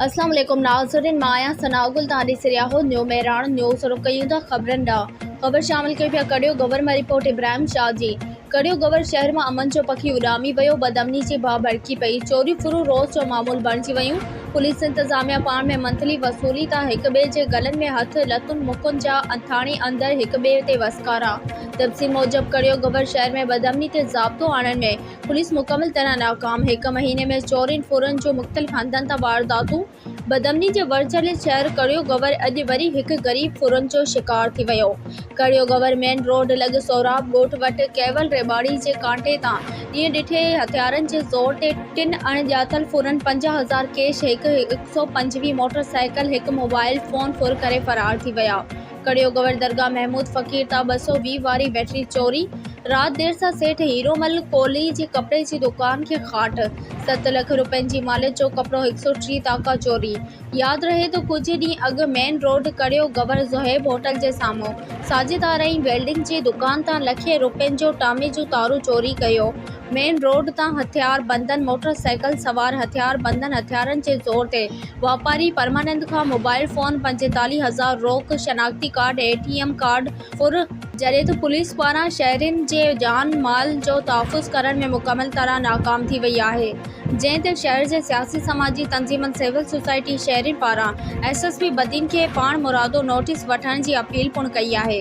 اسلام عليڪم ناظرين مان آهيان ثناء گل توهان ڏسي رهيا آهيو نيو مهراڻ نيوز رخ ڪيون ٿا خبرن ڏانهن خبر شامل ڪريون پيا ڪڙيو گور مان رپورٽ ابراهيم شاهه جي ڪڙيو گور شهر مان امن جو پکي اڏامي ويو بدامني جي باهه ڀڙڪي پئي چوريون ڦرون روز جو معمول بڻجي ويون پوليس انتظاميا پاڻ ۾ منٿلي وصولي تان هڪ ٻئي جي گلن ۾ هٿ لتون مڪن جا اٿاڻي اندر هڪ ٻئي تي وسڪارا تفصيل موجب ڪڙيو گور شهر ۾ بدامني تي ضابطو آڻڻ ۾ پوليس مڪمل طرح ناڪام، هڪ مهيني ۾ چورين ڦورن جون مختلف هنڌن تان وارداتون، بدامني جي ورچيلي شهر ڪڙيو گور اڄ وري هڪ غريب ڦرن جو شڪار ٿي ويو، ڪڙيو گور مين روڊ لڳ سهراب ڳوٺ وٽ ڪيول ريٻاڙي جي ڪانٽي تان ڏينهن ڏٺي هٿيارن جي زور تي ٽن اڻ ڄاتل ڦرن پنجاهه هزار ڪيش هڪ هڪ سؤ پنجويهه موٽر سائيڪل هڪ موبائيل فون ڦر ڪري فرار ٿي ويا. ڪڙيو گور درگاهه محمود فقير تان ٻه سؤ ويهه واري بيٽري چوري، رات دير سان سيٺ هيرومل ڪولهي جي ڪپڙي جي دڪان کي کاٽ، ست لک روپين جي ماليت جو ڪپڙو هڪ سؤ ٽيهه تاڪا چوري. ياد رهي ته ڪجهه ڏينهن اڳ مين روڊ ڪڙيو گور زوهيب هوٽل جي سامهون ساجد آرائين ويلڊنگ جي دڪان تان لکين روپين جو ٽامي جون تارون چوري ڪيو، مين روڊ تان هٿيار بندن موٽر سائيڪل سوار هٿيار بندن هٿيارن جي زور تي واپاري پرمانند کان موبائل فون پنجيتاليهه هزار روڪ شناختي card A T M card ڦر جڏهن ته پوليس پاران شهرين جي جان مال جو تحفظ ڪرڻ ۾ مڪمل طرح ناڪام ٿي وئي آهي جنهن تي شهر جي سياسي سماجي تنظيمن سول سوسائٽي شهرين پاران ايس ايس پي بدين کي پاڻمرادو نوٽيس وٺڻ جي اپيل پڻ ڪئي آهي